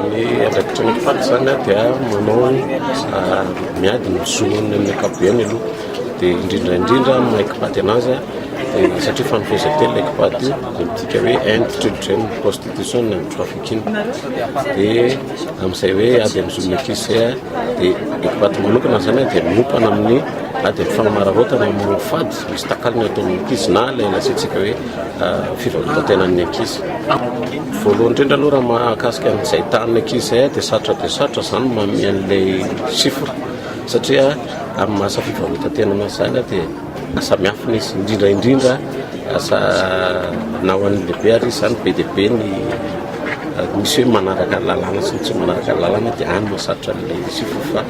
Ny andraikitry ny Fat izany dia manao ah, miady ny zon'ny ankapobeny aloha, dia indrindra indrindra amin'ny Ekpat anazy dia satria fanompoan-telo ilay Ekpat dia midika hoe end children prostitution and trafficking, dia amin'izay hoe ady amin'ny zon'ny ankizy izay ah, dia Ekpat manokana izany dia miompana amin'ny ady amin'ny fanamararaotana amin'ny fady misy takalony ataon'ny ankizy na ilay lazaintsika hoe ah, fivarotan-tenan'ny ankizy. Voalohany indrindra aloha raha mahakasika an'izay tanin'ny ankizy izay aho dia sarotra dia sarotra izany manome an'ilay chiffre satria amin'ny maha asa fivarotantena anazy izany aho dia asa miafina izy indrindra indrindra asa na ho an'ny lehibe ary izy izany be dia be ny misy hoe manaraka ny lalàna sy ny tsy manaraka ny lalàna dia any no sarotra an'ilay chiffre fa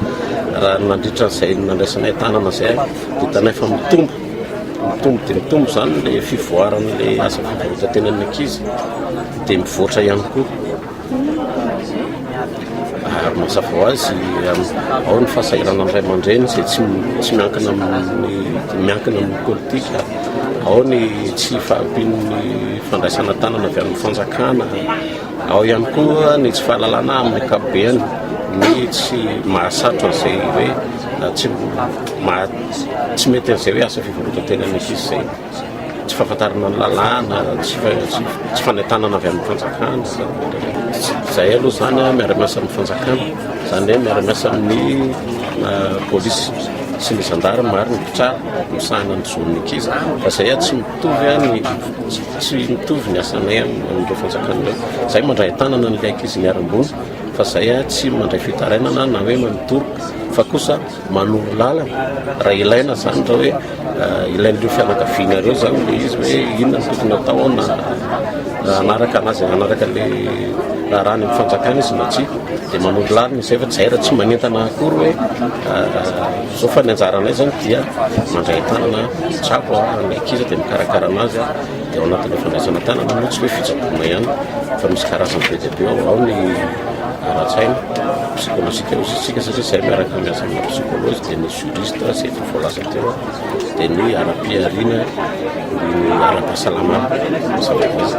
raha nandritra an'izay nandraisanay tanana izay dia hitanay fa mitombo Mitombo dia mitombo izany ilay fivoaran'ilay asa fivarotan-tenan'ny ankizy, dia mivoatra ihany koa. Ary mazava ho azy, ao ny fahasahiranan'ny ray aman-dreny izay tsy tsy miankina amin'ny miankina amin'ny politika, ao ny tsy fahampian'ny fandraisana tanana avy amin'ny fanjakana. Ao ihany koa ny tsy fahalalana amin'ny ankapobeny, ny tsy mahasarotra izay hoe tsy maha tsy mety an'izay hoe asa fivarotan-tena misy izy izay. Tsy fahafantarana ny lalàna, tsy tsy fanentanana avy amin'ny fanjakana. Izay aloha izany miara-miasa amin'ny fanjakana, izany hoe miara-miasa amin'ny polisy sy ny zandary ary ny mpitsara misahana ny zon'ny ankizy fa izay tsy Mitovy an ny tsy mitovy ny asanay amin'ireo fanjakana ireo. Izay mandray an-tanana an'ilay ankizy niharam-boina fa izay tsy mandray fitarainana na hoe manotoroka fa kosa manoro lalana raha ilaina izany raha hoe eh, ilain'ireo fianakaviana ireo izany le izy hoe inona no tokony atao na hanaraka anazy hanaraka le raharaha ny fanjakana izy na tsia dia manoro lalana izay fa tsy zay raha tsy manentana akory hoe eh, Zao fa ny anjaranay zany dia mandray tanana tsako ary ny ankizy dia mikarakara anazy dia ao anatin'ilay fandraisana tanana moa tsy hoe fitsaboana ihany fa misy karazany be dia be ao ao ny ara-tsaina psychologique aussi tsika satria zay miaraka miasa amina psychology dia ny juriste zay efa voalaza teo dia ny ara-pihariana ny ara-pahasalamana mazava ho azy